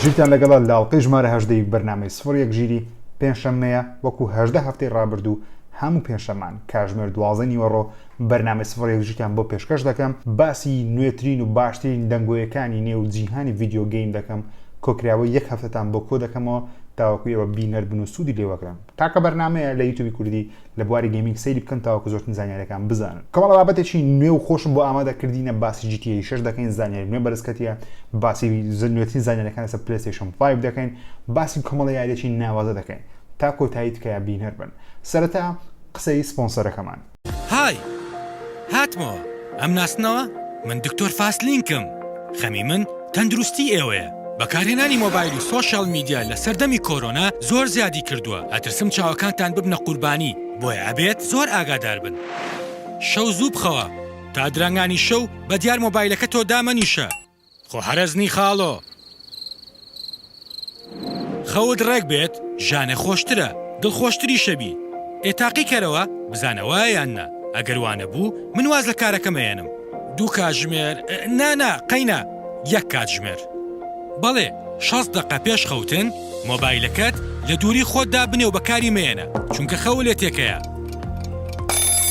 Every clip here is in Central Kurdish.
ژیرتان لەگەڵا لاڵقەی ژمارە هەژدەی بەرنمەی سفر یەک ژیری پێنجشەممەیە وەکو هەژدە هەفتەی ڕابردوو هەموو پێنجشەمان کاژمێر دوازە نیوەڕۆ بەرنمەی سفر یەک ژیتان بۆ پێشکەش دەکەم باسی نوێترین و باشترین دەنگۆیەکانی نێو جیهانی ڤیددیو گەیم دەکەم کۆکراوە یەک هەفتتان بۆ کۆ دەکەمەوە تاوەکو ئێوە بینەر بن و سوودی لێوەگرن تاکە بەرنامەیە لە یوتوبی کوردی لە بواری گەیمینگ سەیری بکەن تاوەکو زۆرترین زانیاریەکان بزانن کەمەڵە بابەتێکی نوێ و خۆشم بۆ ئامادە کردینە باسی جی تی شش دەکەین زانیاری نوێ بەرزکەتیە باسی زنوێترین زانیاریەکان لەسەر پلەستێشم 5 دەکەین باسی کۆمەڵە یاریەکی ناوازە دەکەین تا کۆتایی تکایە بینەر بن سەرەتا قسەی سپۆنسەرەکەمان های! هاتمەوە. ئەمناسنەوە؟ من دکتۆر فاسلینکم. خەمی من تەندروستی ئێوەیە. بەکارهێنانی مۆبایل و سۆشیال میدیا لە سەردەمی کۆرۆنا زۆر زیادی کردووە، ئەترسم چاوەکانتان ببنە قوربانی، بۆیە ئەبێت زۆر ئاگادار بن. شەو زوو بخەوە. تا درەنگانی شەو بەدیار مۆبایلەکە تۆ دامەنیشە. خۆ حەرەزنی خاڵۆ. خەوت ڕێک بێت ژانە خۆشترە دڵخۆشتریشەبی ئێ تاقی کەرەوە بزانە وایە یان نا ئەگەر وانەبوو من واز لە کارەکەم ئەیەنم. دوو کاتژمێر نا نا قەینا یەک کاتژمێر بەڵێ شەست دەقە پێش خەوتن مۆبایلەکەت لە دووری خۆتدا بنێ و بەکاری مەیەنە چونکە خەوە لێ تێکەیە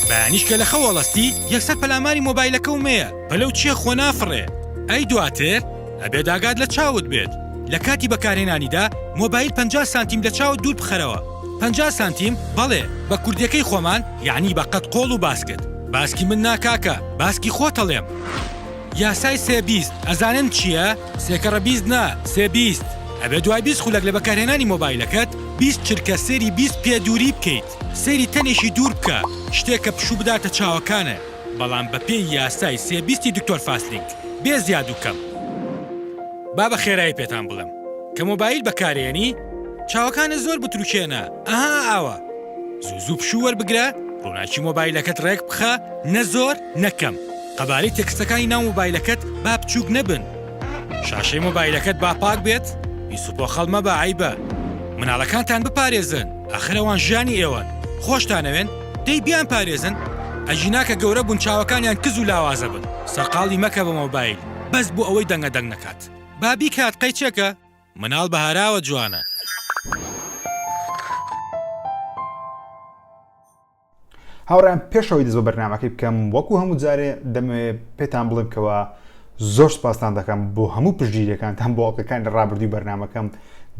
بەیانیش کە لە خەوەڵەستی یەکسەر پەلاماری مۆبایلەکەو مەیە پەلەو چیە خۆ نافڕێ ئەی دواتر ئەبێ داگات لە چاوت بێت لە کاتی بەکارهێنانیدا مۆبایل پەنجا سانتیم لە چاوت دوور بخەرەوە پەنجا سانتیم بەڵێ بە کوردیەکەی خۆمان یەعنی بە قەد قۆڵ و باسکت باسکی من نا کاکە باسکی خۆتەڵێم یاسای سێ بیست ئەزانن چیە سێکەڕە بیست نا سێ بیست ئەبێ دوای بیست خولەک لە بەکارهێنانی مۆبایلەکەت بیست چرکە سێری بیست پێ دووری بکەیت سێری تەنێکی دوور بکە شتێک کە پشوو بداتە چاوەکانت. بەڵام بە پێی یاسای سێ بیستی دکتۆر فاسلینک بێ زیاد و کەم. با بە خێرایی پێتان بڵێم کە مۆبایل بەکارێنی چاوەکانت زۆر بتروکێنە ئەها ئاوا زوو زوو پشوو وەربگرە ڕوناکی مۆبایلەکەت ڕێک بخە نە زۆر نە کەم قەبارەی تێکستەکانی ناو مۆبایلەکەت با بچوک نەبن شاشەی مۆبایلەکەت با پاک بێت پیس و پۆخەڵ مەبە عەیبە مناڵەکانتان بپارێزن ئاخر ئەوان ژیانی ئێوەن خۆشتانەوێن دەی بیان پارێزن ئەگینا کە گەورە بون چاوەکانیان کز و لاوازە بن سەرقاڵی مەکە بە مۆبایل بەس بو ئەوەی دەنگە دەنگ نەکات با بیکات قەیچەکە مناڵ بە هاراوە جوانە. هاوڕێیان پێشەوەی دەست بە بەرنامەکەی بکەم وەکو هەموو جارێ دەمەوێ پێتان بڵێم کەوا زۆر سپاستان دەکەم بۆ هەموو پشتگیریەکانتان بۆ ئەڵلقەکانی ڕابردووی بەرنمەکەم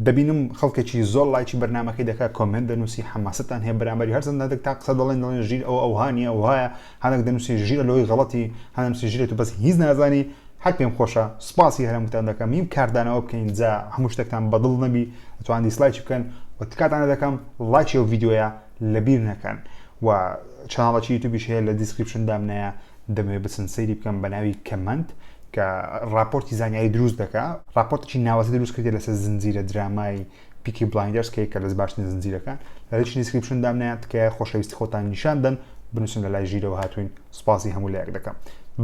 دەبینم خەڵکێکی زۆر لایکی بەرنمەکەی دەکات کۆمنت دەنووسی حەماستان هەیە بەرامبەری هەرچەند هەندێک تا قسە دەڵێن دەڵێن ژیر ئەو ئەوهانیە وهایە هەندێک دەنووسی ژیرە لەوەی غەڵەتی هەندێک ژیرێت و بەس هیچ نازانی هەر پێم خۆشە سپاسی هەرموتان دەکەم هیم کاردانەوە بکەین جا هەموو شتێکتان بەدڵ نەبی ئەتوان دیسلایکی بکەن و تکاتان دەکەم لایکی و ڤیدیۆیە لەبیر نەکەن و چناڵەکی یوتوبیش هەیە لە دیسکریپشن دامنایە دەمەوێت بچن سەیری بکەن بە ناوی کەمەند کە راپۆرتی زانیاری دروست دەکا راپۆرتێکی ناوەزی دروست کردێت لەسەر زنجیرە درامای پیکی بلایندەرز کە کە لەس باشترین زنجیرەکان لە لەش دیسکریپشن دامنیان تکایە خۆشەویستی خۆتان نیشان دەن بنووسن لە لای ژیرەوە هاتوین سوپاسی هەموو لایەک دەکەم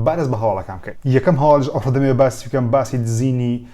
بارز بە هەواڵەکان بکەین یەکەم هەواڵش ئەوڕۆ دەمێ باسی بکەم باسی دزینی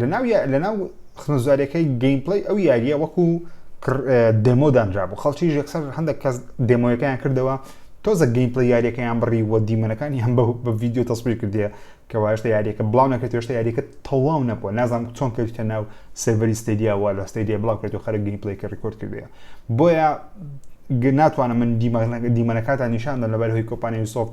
لەناو یا لەناو خزمەتگوزاریەکەی گەیمپلەی ئەو یاریە وەکو دێمۆ دانرابوو خەڵکیش یەکسەر هەندێک کەس دێمۆیەکەیان کردەوە تۆزە گەیمپلە یاریەکەیان بڕی وە دیمەنەکانی هەم بە ڤیددیو تەسبیر کردێ کە واشتە یاریەکە بڵاو نەکرێت هێشتا یاریەکە تەواو نەبووە نازانم چۆن کەوتە ناو سێڤەری ستێدیاوە لە ستێدیە بڵاو کرێت و خەرە گەیمپلەیکە ڕکۆرد کردێ بۆیە ناتوانم من دیمەنەکاتان نیشاندا لەبەر هۆی کۆپانیوسۆفت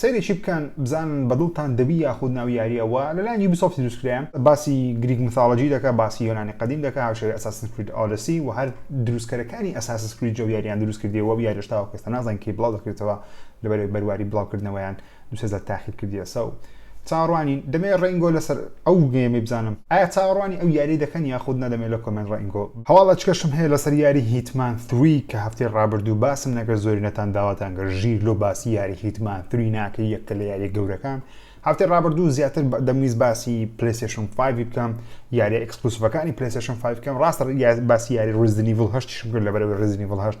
سەیرێکی بکەن بزانن بە دڵتان دەبی یاخود ناو یاریە وە لەلایەن یوبیسۆفتی دروستکرایە باسی گریک میثۆلۆجی دەکا باسی یۆنانی قەدیم دەکا هاوشێوەی ئەساسن کرید ئۆدیسی و هەر دروستکەرەکانی ئەساسن کریدی ئەو یاریان دروستکردیە وە یاریەش تاوەکو ئێستا نازانین کەی بڵاو دەکرێتەوە لەبەرئەوەی بەرواری بڵاوکردنەوەیان دوو سێ جار تاخیر کردیەسە و چاوەڕوانین دەمێ ڕەینگۆ لەسەر ئەو گەیمەی بزانم. ئایا چاوەڕوانی ئەو یاریە دەکەن یاخود نا دەمێ لە کۆمێنت ڕەینگۆ بزانم. هەواڵ ئەچکەشم هەیە لەسەر یاری هیتمان ثری کە هەفتەی ڕابردوو باسم نەکرد زۆری نەتان داواتان کرد ژیر لۆ باسی یاری هیتمان ثری ناکەی یەکە لە یاریە گەورەکان هەفتەی ڕابردوو زیاتر دەمویست باسی پلەیستێشن فایڤی بکەم یاریە ئێکسکلوسڤەکانی پلەیستێشن فایڤ بکەم ڕاستە باسی یاری ڕیزدنیڤڵ هەشتیشم کرد لەبەرئەوەی ڕیزدنیڤڵ هەشت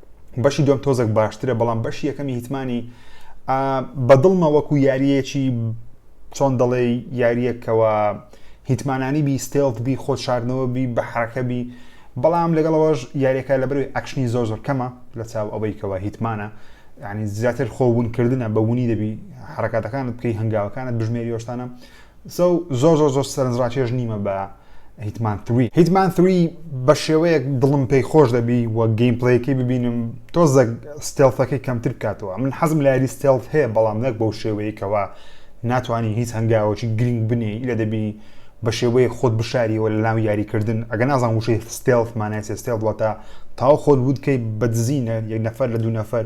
بەشی دوم تۆزەک باشترە بەڵام بەشی یەکەمی هیتمانی بەدڵمە وەکو یاریەکی چۆن دەڵێ یاریەکەوە هیتمانانی بی ستێڵت بی خۆ شاردنەوە بی بە حرەکە بی بەڵام لەگەڵەوەش یاریەکە لە بەروی ئەکشنی زۆر زۆر کەمە لە چاو ئەوەی کەەوە هیتمانە ینی زیاتر خۆبوونکردە بە وونی دەبی حرکاتەکانت بکەی هەنگاوەکانت بژمێریۆشتانە سۆ زۆر زۆر زۆر سەرنجڕاکێش نیمە بە هیتمان ثری هیتمان ثری بە شێوەیەک دڵم پێی خۆش دەبی و گەیم پلەیەکەی ببینم تۆزەک ستێڵفەکەی کەمتر بکاتەوە من حەزم لە یاری ستێڵف هەیە بەڵام نەک بەو شێوەیەکەوە ناتوانانی هیچ هەنگاوەکی گرنگ بنێ لە دەبی بە شێوەیە خۆت بشاریەوە لە ناو یاریکردن ئەگە نازان وشەی ستێڵف مانای ستێڵ وڵاتە تاو خۆت وتکەی بەدزینە یەک نەفەر لە دوو نەفەر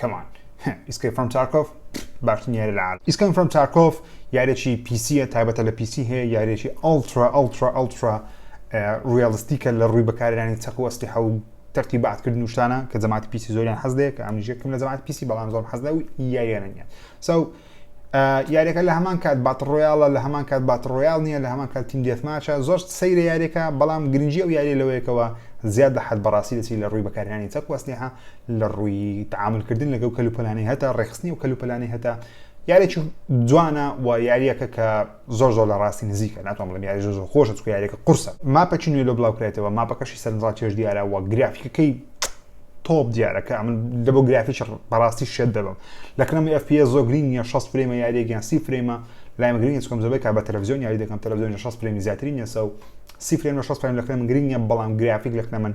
Come on. Escape from Tarkov باشترین یاری لە عالم. Escape from Tarkov یارێکی پیسیە تایبەتە لە پیسی هەیە یارێکی ئەڵترا ئەڵترا ئەڵترا ڕیالیستیکە لە ڕووی بەکارێنانی چەق و ئەسلیحە و تەرتی باتکردن و شتانە کە جەماعەتی پیسی زۆریان حەز دەیە کە ئەمنیژەکەم لە جەماعەت پیسی بەڵام زۆر حەز لە و یاریانە نیە سو so, یاریەکە لە هەمان کات بات ڕۆیاڵە لە هەمان کات بات ڕۆیال نییە لە هەمان کات تیم دێتماچە زۆر سەیرە یاریەکە بەڵام گرنگجی ئەو یاری لەوەیەکەوە زیاد لە حد بەڕاستی دەچی لە ڕووی بەکارانی چەک وەسلیحە لە ڕووی تعاملکردن لەگەڵ کەلوپەلانی هەتا ڕێخستنی و کەلوپەلانی هەتا یارێکی جوانە و یاریەکە کە زۆر زۆر لە ڕاستی نزیکە ناتوان بڵێم یاری زۆر زۆر خۆشە چونکە یاریەکە قورسە ماپەکی نوێ لۆ بلاو کرایتەوە ماپەکەشی سەرنجڕا کێش دیارە وە گرافیکەکەی تۆپ دیارە کە ئەمن لە بۆ گرافیش بەڕاستی شێت دەبم لە کەنەمی FPS زۆر گرین نیە 6 فرێمە یاریەکیان سی فرێمە لایمە گرین چکم زۆربەی کا بە تەلەڤزیۆن یاری دەکەم تەلەڤزیۆن 6 فرێمی زیاتری نیە سەو سی فرێم لە 6 فرێم لە کەنەم گرین نیە بەڵام گرافیک لە کەنەمن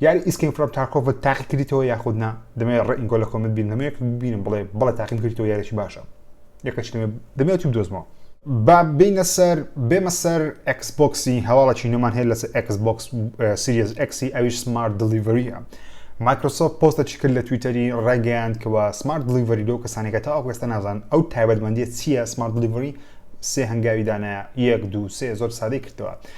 یاری ئیسکیم فرۆم تارکۆڤت تاقی کردیتەوە یاخود نا دەمەوێت ڕێ ئینگۆ لە کۆمنت بینم دەمەوێت ببینم بڵێ بڵێ تاقیم کردیتەوە یاریی باشە یەکەچ دەمێ دەمێت و بدۆزمەوە با بینە سەر بێمە سەر ئەکس بۆکسی هەواڵەکی نوێمان هەیە لەسەر ئەکس بۆکس سریز ئەکسی ئەویش سمارت دلیڤریە مایکرۆسۆفت پۆستەکی کرد لە تویتەری ڕێگەیان کەەوە سمارت دلیڤری لەو کەسانێکە تا ئەوکەستە نازان ئەو تایبەتمەندی چییە سمارت دلیڤری سێ هەنگاوی دانایە یەک دو سێ زۆر سادەی کردەوە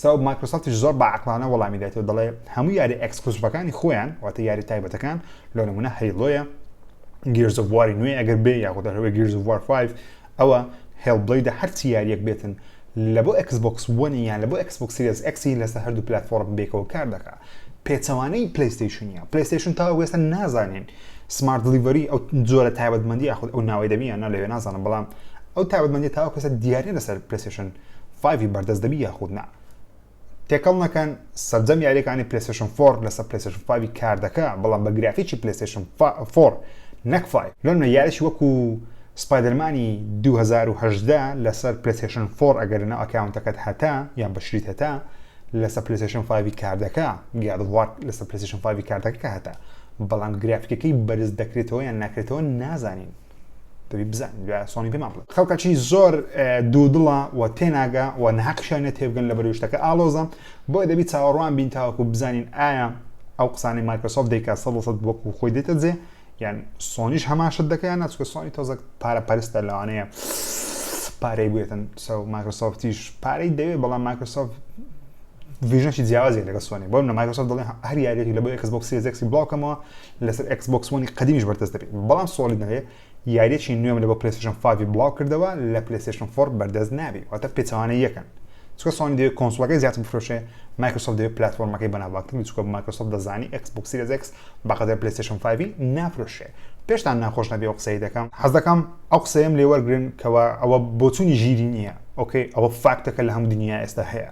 سەبەب مایکرۆسۆفتیش زۆر بە عەقڵانە وەڵامی دایتەوە دەڵێ هەموو یاریە ئێکسکلوسڤەکانی خۆیان واتە یاریە تایبەتەکان لۆ نمونە هەیڵۆیە گیرز ئۆف واری نوێ ئەگەر بێ یاخود هەروەی گیرز ئۆف وار 5 ئەوە هێڵ بڵیدە هەرچی یاریەک بێتن لە بۆ ئێکس بۆکس وەنی یان لە بۆ ئێکس بۆکس سیریز ئێکسی لەسەر هەردوو پلاتفۆرم بێکەوە کار دەکا پێچەوانەی پلەیستەیشنیە پلەیستەیشن تا وێستە نازانین سمارت دلیڤەری ئەو جۆرە تایبەتمەندی یاخود ئەو ناوەی دەبیانە لەوێ نازانم بەڵام ئەو تابەتمەندی تاوەکەسە دیارە لەسەر پلسشن فایڤی بەردەست دەبی یاخود نا تێکەڵ نەکەن سەرجەم یاریەکانی پلسشن فۆر لەسەر پلسشن فاوی کار دەکە بەڵام بە گرافیکی پلسشن فۆر نەکفای لۆنە یاریش وەکو سپایدەرمانی 2010 لەسەر پلسشن فۆر ئەگەر لەناو ئەکاونتەکەت هەتا یان بەشریت هەتا لەسەر پلسشن فاوی کار دەکە گادوار لەسەر پلسشن فاوی کار دەکە هەتا بەڵام گرافیکەکەی بەرز دەکرێتەوە یان ناکرێتەوە نازانین دەبی بزان سۆنی پێمان بڵێ خەڵکەچی زۆر دوودڵە و تێناگە و نەحەقشانە تێبگەن لە بەروشتەکە ئالۆزە بۆی دەبی چاوەڕوان بین تاوەکو بزانین ئایا ئەو قسانی مایکرۆسۆفت دەیکا سە سەد وەکو خۆی دێتە جێ یان سۆنیش هەماشت دەکەیان ناچکە سۆنی تۆزە پارە پەرستە لەوانەیە پارەی بێتن سە مایکرۆسۆفتیش پارەی دەوێت بەڵام مایکرۆسۆفت ڤژنشی جیاوازی لەگە سۆنی بۆم لە مایکرۆسۆفت دەڵێ هەر یاریێکی لە بۆ یکس بۆکسی زێکسی بڵاوکەمەوە لەسەر ئێکس بۆکس وەنی قەدیمیش بەردەست دەبێت بەڵام سۆڵید نەبێ یاریەکی نوێم لە بۆ پلسشن فاوی بڵاو کردەوە لە پلسشن فۆر بەردەست نابی واتە پێچوانە یەکەن چکە سۆنی دەوێت کۆنسڵەکەی زیاتر بفرۆشێ مایکرۆسۆفت دەوێت پلتفۆرمەکەی بەناوباتر بچکە مایکرۆسۆفت دەزانی ئەکس بۆکسی لەزێکس بەقەدەر پلسشن فاوی نافرۆشێ پێشتان ناخۆش نەبێ و قسەی دەکەم حەز دەکەم ئەو قسەیەم لێوەرگرن کەەوە ئەوە بۆچوونی ژیری نییە ئۆکەی ئەوە فاکتەکە لە هەم دنیا ئێستا هەیە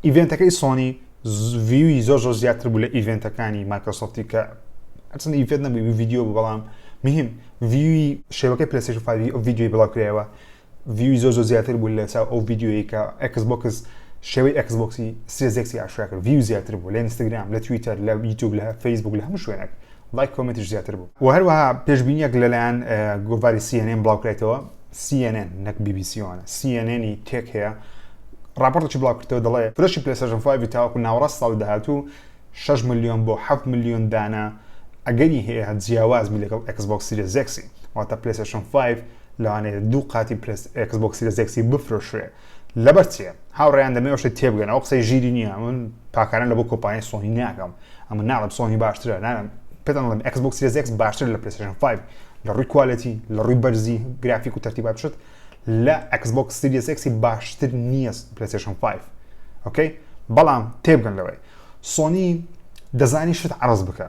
ئیڤێنتەکەی سۆنی ڤیوی زۆر زۆر زیاتر بوو لە ئیڤێنتەکانی مایکرۆسۆفتی کە ئەچن ئیڤێت نەبووی ویددیو بوو بەڵام مهم ڤیوی شێوەکەی پلسیشن فاوی ئەو ویددیوی بڵاوکرایەوە ڤیوی زۆر زۆر زیاتر بوو لە چاو ئەو ویددیوی کە ئەکس بۆکس شێوەی ئەکس بۆکسی سێزێکسی ئاشراکرد ڤیو زیاتر بوو لە ئینستاگرام لە تویتەر لە یوتوب لە فەیسبوک لە هەموو شوێنێک لایک کۆمێنتیش زیاتر بوو. وە هەروەها پێشبینیەک لەلایەن گۆڤاری سی ئێن ئێن بڵاوکرایتەوە سی ئێن ئێن نەک بی بی سی ئۆنە سی ئێن ئێنی تێک هەیە ڕاپۆرتێکی بڵاوکردەوە دەڵێ فرۆشی پلەسەژن فایڤی تاوەکو ناوەڕاست ساڵی داهاتوو 6 ملیۆن بۆ 7 ملیۆن دانە ئەگەری هەیە جیاواز بی لەگەڵ ئەکس بۆکس سیرە زێکسی واتە پلەسەژن 5 لەوانەیە دوو قاتی پلەس ئەکس بۆکس سیرە زێکسی بفرۆشرێ لەبەر چیە هاوڕێیان دەمێ ئەو شتە تێبگەن ئەو قسەی ژیری نییە من پاکانە لە بۆ کۆپانیای سۆنی ناکەم ئەمە ناڵم سۆنی باشترە نانم پێتان دەڵێم ئەکس بۆکس سیریز ئێکس باشتر لە پلەیستەیشن 5 لە ڕووی کوالێتی لە ڕووی بەرزی گرافیک و تەرتیبات شت لە ئەکس بۆکس سیریز ئێکسی باشتر نییە پلەیستەیشن 5 ئۆکەی بەڵام تێبگەن لەوەی سۆنی دەزانی شت عرض بکە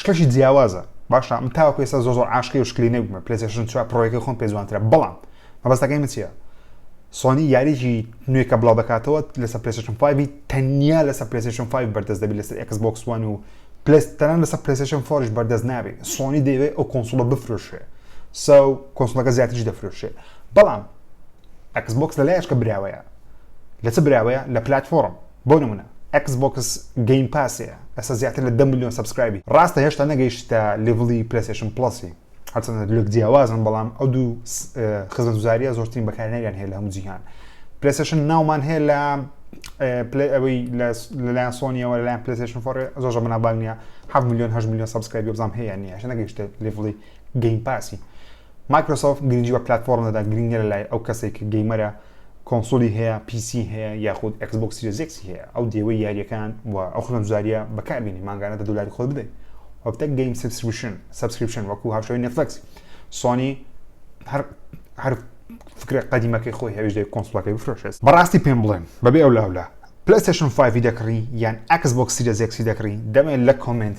شتێکی جیاوازە باشە من تاوەکو ئێستا زۆر زۆر عاشقی و شکلی نەبوومە پلەیستێشن چوار پڕۆیەکەی خۆم پێ جوانترە بەڵام مەبەستەکەی من چییە سۆنی یاریی نوێ کە بڵاو دەکاتەوە لەسەر پلەیستێشن 5 تەنیا لەسەر پلەیستێشن 5 بەردەست دەبێت لەسەر ئێکس بۆکس وان و پلەستەران لەسەر پلەیستێشن 4 بەردەست نابێت سۆنی دەیەوێت ئەو کۆنسڵە بفرۆشێ ساو کۆنسڵەکە زیاتریش دەفرۆشێ بەڵام ئەکس بۆکس لە لایەشکە براوەیە لە چ براوەیە لە پلتفۆرم بۆ نمونە ئێکس بۆکس گەیم پاس هەیە ئێستا زیاتر لە دە ملیۆن سەبسکرایبی ڕاستە هێشتا نەگەیشتە لیڤڵی پلەیستەیشن پڵەسی هەرچەندە لێک جیاوازن بەڵام ئەو دوو خزمەتگوزاریە زۆرترین بەکارهێنەریان هەیە لە هەموو جیهان پلەیستەیشن ناومان هەیە لە پلی ئەوەی لەلایەن سۆنیەوە لەلایەن پلەیستەیشن فۆڕ زۆر بەنابانگ نیە 7 ملیۆن 8 ملیۆن سەبسکرایبی بزانم هەیە نیە هێشتا نەگەیشتە لیڤڵی گەیم پاسی مایکرۆسۆفت گرنگی بە پلتفۆرم دەدا گرنگە لە لای ئەو کەسێک گەیمەرە کۆنسولی هەیە پیسی هەیە یاخود ئێکس بۆکس سیریس ئێکسی هەیە ئەو دێوەی یاریەکان و ئەو خزمەتگوزاریە بەکار بینی مانگانە دە دولاری خۆت بدەی وەکتەک گەیم سبسکریپشن سبسکریپشن وەکو هاوشێوەی نێتفلکس سۆنی هەر هەر فکرە قەدیمەکەی خۆی هەویش دەی کۆنسولەکەی بفرۆشێت بەڕاستی پێم بڵێن بەبێ ئەو لاولا پلەستێشن 5 دەکڕی یان ئەکس بۆکس سیریس ئێکسی دەکڕی دەمێ لە کۆمێنت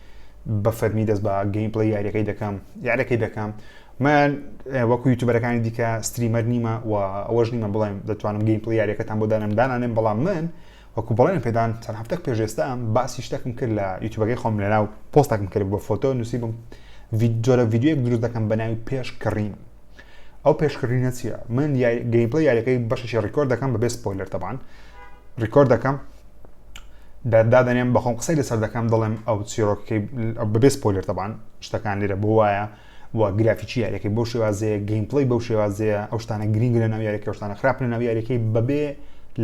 بە فەرمی دەست بە گەیم پڵی یاریەکەی دەکەم یارەکەی دەکەم من وەکو یوتوبەرەکانی دیکە ستریمەر نیمە و ئەوەش نیمە بڵێم دەتوانم گەیم پڵی یاریەکەتان بۆ دانم دانانێن بەڵام من وەکو بڵێن پێدان چەند هەفتەک پێشێستا ئەم باسی شتەکم کرد لە یوتوبەکەی خۆم لەنا و پۆستەکم کرد بە فۆتۆ نووسیبم جۆرە یددیوەک دروست دەکەم بە ناوی پێش کڕین ئەو پێشکڕینە چییە من گەیمپڵی یاریەکەی بەشێکی ڕیکۆرد دەکەم بەبێ سپۆیلەر تەبان ڕیکۆرد دەکەم دادەنێم بەخۆم قسەی لەسەر دەکەم دەڵێم ئەو چیرۆکەکەی بەبێ سپۆیلەر تەبان شتەکان لێرە بۆ وایە و گرافیکی یاریەکەی بۆ شێوازەیە گەیمپڵی بەو شێوازەیە ئەو شتانە گرنگ لە ناو یاریەکە شتانە خراپ لە ناو یاریەکەی بەبێ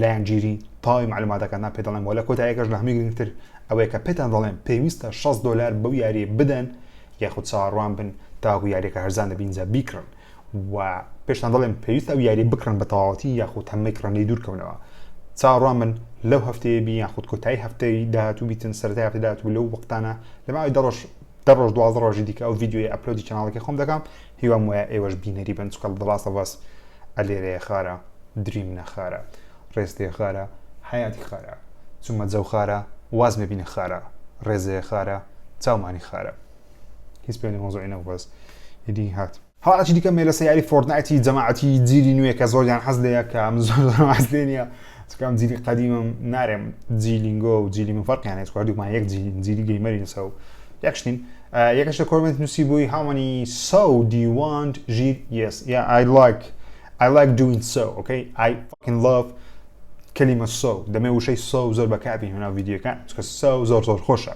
لایەنگیری تاوی معلوماتەکاننا پێ دەڵێم وە لە کۆتایەکەش لە هەمووی گرنگتر ئەوەیە کە پێتان دەڵێم پێویستە 6 دلار بەو یاری بدەن یاخود چاوەڕوان بن تاوەکو یاریەکە هەرزان دەبین جا بیکڕن و پێشتان دەڵێم پێویستە ئەو یاری بکڕن بە تەواوەتی یاخود هەمەی کڕن لێ دوورکەونەوە چاوەڕوان من لەو هەفتەیە بی یاخود کۆتایی هەفتەی داهاتوو بیتن سەرای هەفتەی داهاتوو لەو وەختانە لەماوەی دەڕۆژ دە ڕۆژ دوازدە ڕۆژی دیکە ئەو ڤیددیوی ئەپلۆدی چناڵەکە خۆم دەکەم هیوام وایە ئێوەش بینەری بن چکە The Last of Us ە لێرەیە خارە دریم نە خارە ڕێستێ خارە حەیاتی خارە چومە جەو خارە واز مەبینە خارە ڕێزێ خارە چاومانی خارە هیچ پێ لە مەوزوعی نەبوو بەس ئیدی هات هەڵەکی دیکە مێلە سەیاری فۆرتنایتی جەماعەتی جیلی نوێ کە زۆریان حەز لێیە کە من زۆر حەز لێ نییە چونکە ئەم جیلی قەدیمەم نارێم جی لینگۆ و جیلی من فەرقیان هەیە هەردووکمان یەک جیلین جیلی گەیمەرین سە و یەک شتین یەکەش لە کۆمنت نووسی بووی هاومەنی سە و دیوانت ژیر یس یا ئای لایک I like doing so okay I fucking love کەلیمە سە و دەمێ وشەی سە و زۆر بەکاربین هەنا ڤیددیوەکان چکە سە و زۆر زۆر خۆشە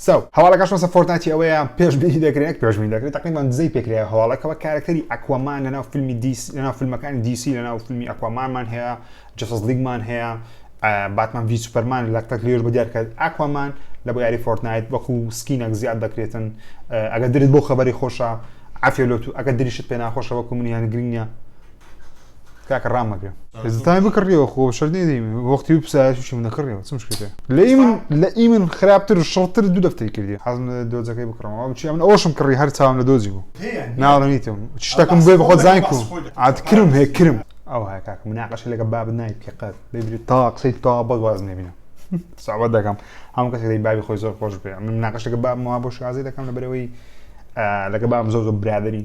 سەو. هەواڵەکە شۆسە فۆرتنایتی ئەوەیە پێشبینی دەکرێت نەک پێشبینی دەکرێت تەقریبان دزەی پێکرایە هەواڵەکەوە کارەکتەری ئەکوەمان لەناو فیلمی دیسی لەناو فیلمەکانی دیسی لەناو فیلمی ئەکوەمانمان هەیە جەسەس لیگمان هەیە باتمان ڤی سوپەرمان لە تەک لێژ بە دیارکە ئەکوەمان لە بۆ یاری فۆرتنایت وەکو سکینەک زیاد دەکرێتن ئەگە درت بۆ خەبەری خۆشە عفێلۆتو ئەگە دریشت پێ ناخۆشە وەکو منیان گرنگە کاکە ڕام مەگرە زتان بکڕیەوە خۆ شەر نێدەی وەختی و پسایشی من نەکڕیەوە چم شکێتێ لە من لە ئی من خراپتر و شڕتر دوو دەفتەی کردی حەزم دۆزەکەی بکڕەوە بچی من ئەوشم کڕی هەر چاوم لە دۆزی بوو ناڕەنیتم شتەکەم بێ بەخۆ زای کو عادکرم هەیە کرم ئەو هەیە کاکە مناقەشە لەگە باب نایت کە قەت ببری تا قسەی تا بەڵ واز نێبینە ساوە دەکەم هەم کەس دەی بابی خۆی زۆر خۆش بێ من ناقەشەکە باب ما بۆ شازی دەکەم لە بەرەوەی لەگە بام زۆر زۆر برادری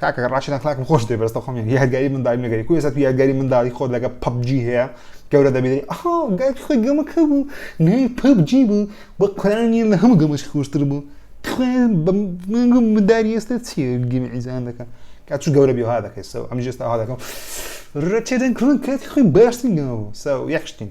کاکە ڕاشد ئەخلاقم خۆش دێ بەرستە خۆم یادگاری منداڵی نەگەری کو ێستا تو یادگاری منداڵی خۆت لەگە پەبجی هەیە گەورە دەبیدەی ئەها گای خۆی گەمەکە بوو نای پەبجی بوو بە قرانی لە هەموو گەمەش خۆشتر بوو بەمگم منداری ئێستا چی گەمی ئیزان دەکە کا چ گەورە بێ ها دەکەیتەوە ئەم ژێستا ها دەکەم ڕەچێدەن کڕن کاتی خۆی باشتین گەمە بوو ساو یەخشتین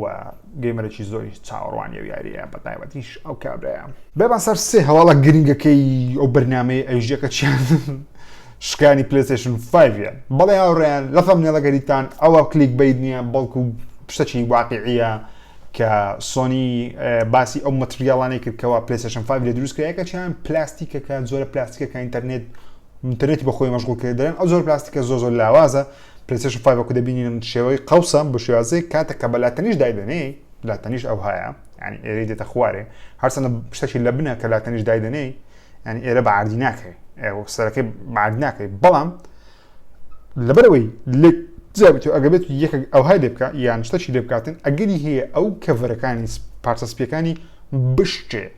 و گەیمەرێکی زۆری چاوەڕوانی و یاریە بە تایبەتیش ئەو کابراە بێبان سەر سێ هەواڵە گرنگەکەی ئەو بەرنمەی ئەیژەکە چیان شکانی پلسشن 5 بەڵێ هاوڕێیان لەفەم نێڵەگەریتان ئەوە کلیک بیت نییە بەڵکو شتەکی واقعیە کە سۆنی باسی ئەو مەتریاڵانەی کردکەوە پلسشن 5 لە دروستکرایەکە چیان پلاستیکەکە زۆرە پلاستیکەکە ئینتەرنێت ئینتەرنێتی بەخۆی مەشغول کردن ئەو زۆر پلاستیکە زۆ زۆر لاوازە پلەیستەیشن فایڤ وەکو دەبینین شێوەی قەوسە بە شێوازەیەک کاتێک کە بە لاتەنیش دایدەنێی لاتەنیش ئەو هەیە ینی ئێرە دێتە خوارێ هەرچەندە شتەکی لە بنە کە لاتەنیش دایدەنێی ینی ئێرە بە عردی ناکەی سەرەکەی بەعاد ناکەی بەڵام لەبەرەوەی لە جابێت و ئەگەبێت یەکە ئەو های لێ بکە یان شتەکی لێ بکاتن ئەگەری هەیە ئەو کەڤەرەکانی پارچە سپیەکانی بشتێ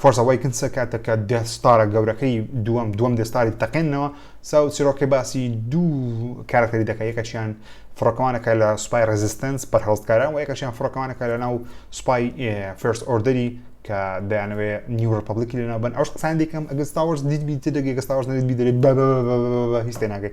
فۆرس ئەوەیکن سێ کاتێک کە دێث ستارە گەورەکەی دووەم دووەم دێث ستاری تەقێنەوە ساو چیرۆکەی باسی دوو کارەکتەری دەکە یەکەشیان فڕۆکەوانەکە لە سوپای ڕێزیستنس بەرهەڵستکاران و یەکەشیان فڕۆکەوانەکە لە ناو سوپای فێرس ئۆردەری کە دەیانەوێ نیو ڕپبلکی لەناو بن ئەوش قسان دیکەم ئەگەستاوەش دیت بیت دەگەستاوەش نەدیت بیدەێت بە هیچ تێناگەی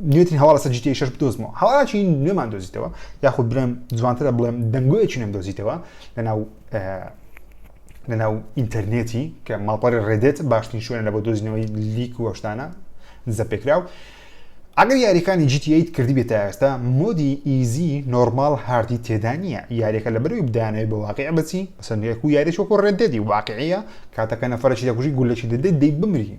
نوێترین هەواڵ لەسەر GTA 6 بدۆزمەوە هەواڵاتی نوێمان دۆزیتەوە یاخود برم جوانترە بڵێم دەنگۆیەکی نوێم دۆزیتەوە لەناو لەناو ئینتەرنێتی کە ماڵپەری ڕێدێت باشترین شوێن لە بۆ دۆزینەوەی لیک و هۆشتانە دزە پێکراو ئەگەر یاریەکانی GTA کردی بێت تا ئێستا مۆدی ئیزی نۆرمال هاردی تێدا نییە یاریەکە لە بەروی بدانەوەی بە واقع بچی بەسەندێک و یاریشۆک و ڕێدێدی واقعەیە کاتەکە نەفرەشی دەکوژی گولەشی دەدەی دەی بمری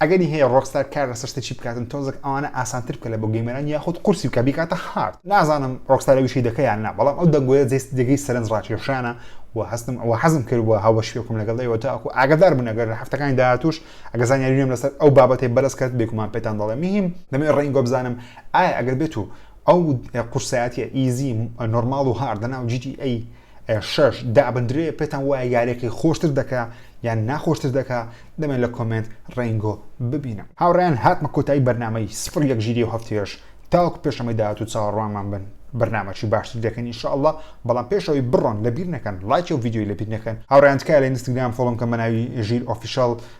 ئەگەری هەیە ڕۆکستار کار لەسەر شتە چی بکاتن تۆزەک ئەوانە ئاسانتر بکە لە بۆ گەیمەران یاخود قورسی بکە بیکاتە هارد نازانم ڕۆکستار ویشەی دەکە یان نا بەڵام ئەو دەنگۆیە جێست جێگەی سەرنج ڕاکێشانە و هەستم ئەوە حەزم کردووە هاوبەشی بکەم لەگەڵ ئێوە تاکو ئاگادار بن ئەگەر لە هەفتەکانی داهاتووش ئەگەر زانیاری نوێم لەسەر ئەو بابەتەی بەرز کرد بێگومان پێتان دەڵێم مهم دەمەوێت ڕەنگی گۆ بزانم ئایا ئەگەر بێت و ئەو قورسایەتیە ئیزی نۆرماڵ و هارد لەناو جی تی ئەی شەش دابندرێ پێتان وایە یاریەکەی خۆشتر دەکا یان ناخۆشتر دەکا دەمێن لە کۆمێنت ڕێنگۆ ببینم هاوڕێیان هاتمە کۆتایی بەرنامەی سفر یەک ژیری و هەفتەیەش تاوەکو پێشەمەی داهات و چاوەڕوانمان بن بەرنامەکی باشتر دەکەین انشاءاللە بەڵام پێشەوەی بڕۆن لەبیر نەکەن لایکی و ڤیدیۆی لەبیر نەکەن هاوڕێیان تکایە لە ئینستاگرام فۆڵۆم کەن بە ناوی ژیر ئۆفیشاڵ